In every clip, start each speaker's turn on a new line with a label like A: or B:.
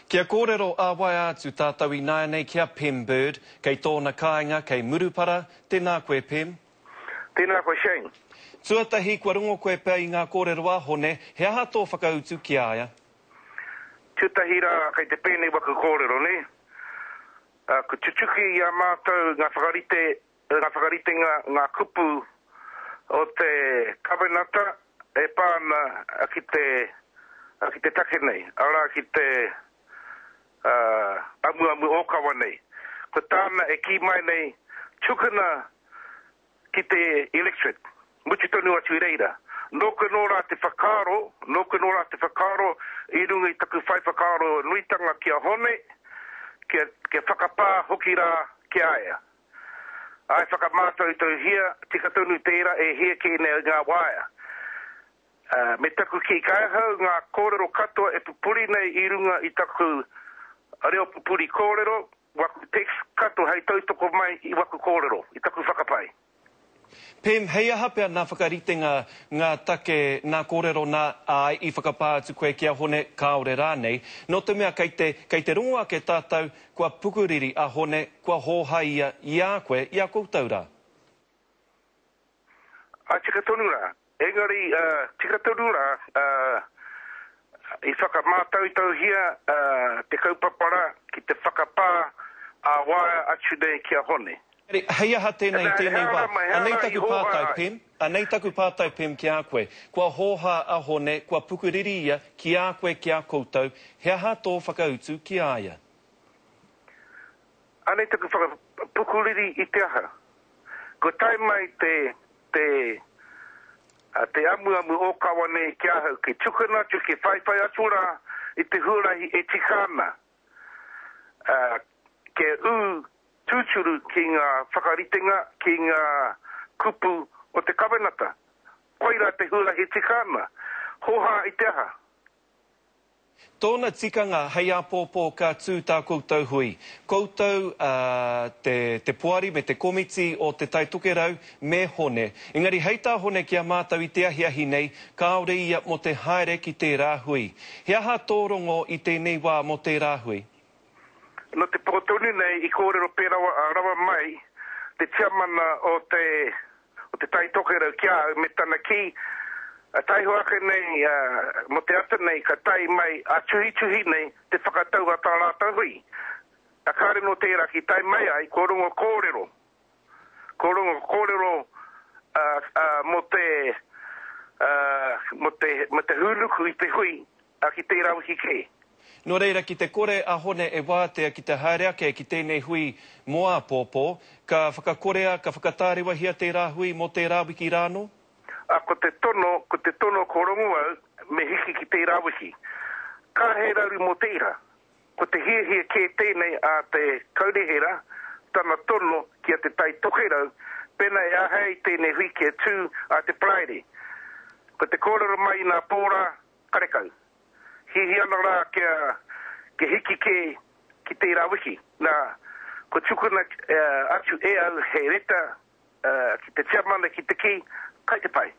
A: Kia kōrero ā-waea atu tātou ināianei ki a Pem Bird, kei tōna kāinga kei Murupara, tēnā koe Pem. Tēnā koe
B: Shane. Tuatahi kua
A: rongo koe pea i ngā kōrero a Hone, he aha tō whakautu ki a ia?
B: Tuatahi rā kei te pēnei waku kōrero nei, ā, kua tutuki i a mātou ngā whakarite Nō ngā whakaritenga ngā kupu o te Kawenata e pā ana ki te ki te take nei, arā, ki te amuamu ōkawa nei. Ko tāna e kī mai nei, tukuna ki te electorate, mutu tonu atu i reira. Nōku anō rā te whakaaro, nōku anō rā te whakaaro i runga i taku whai whakaaro nuitanga ki a Hone, kia whakapā hoki rā ki a ia. I whakamātoutouhia, tika tonu tērā e hia kē nei ngā waea. Me taku kī, kai ahau ngā kōrero katoa e pupuri nei i runga i taku reo pupuri kōrero, waku text kato hei tautoko mai i waku kōrero, i taku whakapae. Pem,
A: Hei aha pea nā whakaritenga, ngā take, nā kōrero nā, āe, i whakapā atu koe ki a Hone, kāore rānei, nō te mea kei te, kei te rongo ake tātou, kua pukuriri a Hone, kua hōhai ia i a koe, i a koutou rā?
B: Ā, tika tonu rā. Engari, tika tonu rā, i whakamātautauhia te kaupapa rā ki te whakapā ā-waea atu nei ki a Hone. Hei aha tēnei
A: i tēnei wā? Anei taku pātai, Pem, anei taku pātai, Pem, ki a koe. Kua hōhā a Hone, kua pukuriri ia ki a koe, ki a koutou, he aha tō whakautu ki a ia?
B: Anei taku whakapukuriri i te aha? Kua tae mai te te te amuamu ōkawa nei ki ahau, ki tukuna atu, ki whaiwhai atu rā i te huarahi e tika ana, ā, kia ū tūturu ki ngā whakaritenga, ki ngā kupu o te Kawenata. Koirā te huarahi e tika ana. Hōhā i te aha?
A: Tōna tikanga hei āpōpō ka tū tā koutou hui. Koutou a te te poari me te komiti o te Tai Tokerau me Hone. Engari hei tā Hone ki a mātou i te ahiahi nei kāore ia mō te haere ki tērā hui. He aha tō rongo i tēnei wā mō tērā hui? Nō
B: te pō tonu nei i kōrero pērawa a rawa mai te tiamana o te o te Tai Tokerau ki a au me tana kī, taiho ake nei mō te ata nei ka tae mai a tuhituhi nei te whakatau a tā rātou hui. Kāre nō tērā ki tae mai ai kua rongo kōrero, kua rongo kōrero mō te mō te hūnuku i te hui ā, ki tērā wiki kē. Nō reira, ki
A: te kore a Hone e wātea ki te haere ake ki tēnei hui mō āpōpō, ka whakakorea, ka whakatārewahia tērā hui mō tērā wiki rānō? Ā, ko te
B: tono, ko te tono, ko rongu au, me hiki ki tērā wiki. Ka he raru mō te ira. Ko te hiahia kē tēnei a te Kaunihera, tana tono ki a Te Tai Tokerau, pēnā e āhei tēnei hui kia tū ā te Paraire. Ko te kōrero mai i nā pōrā, Karekau. Hihi ana rā kia, kia hiki kē ki tērā wiki. Nā, kua tukuna atu e au he reta ki te tiamana ki te kī, kai te pai.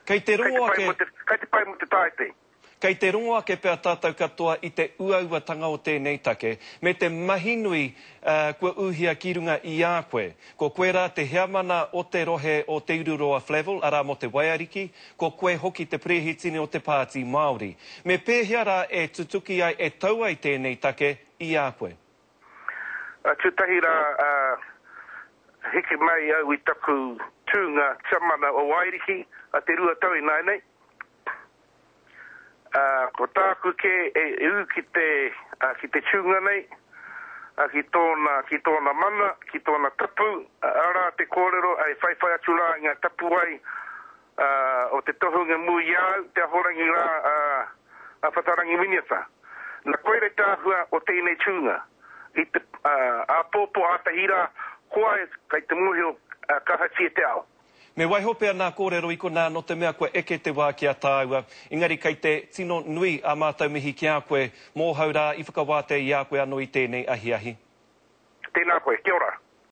B: Kei te rongo
A: ake. Kai te pai
B: mō te tāete. Kei te rongo
A: ake pea tātou katoa i te uauatanga o tēnei take, me te mahi nui kua uhia ki runga i a koe. Ko koe rā te heamana o te rohe o Te Ururoa Flavell, arā mō te Waiariki, Ko koe hoki te perehitini o te Pāti Māori. Me pēhea rā e tutuki ai, e tau ai tēnei take i a koe?
B: Tētahi rā, heke mai au i taku tūnga Tiamana o Wairiki, te rua tau ināianei. Ā, ko tāku kē e ū ki te, ā, ki te tūnga nei, ā, ki tōna, ki tōna mana, ki tōna tapu, ā, arā te kōrero, ā, e whaiwhai atu rā i ngā tapuwae, ā, o te tohunga mū i a au, te Ahorangi rā, ā, a Whatarangi Miniata. Na, koirei te āhua o tēnei tūnga. I te, ā, āpōpō ātahi rā, koa e, kei te mōhio, ā, kahatia te ao. Me waiho pea nā
A: kōrero i konā nō te mea kua eke te wā ki a tāua, engari kei te tino nui ā mātou mihi ki a koe, mōhau rā i whakawātea i a koe anō i tēnei ahiahi. Tēnā
B: koe,
A: kia ora.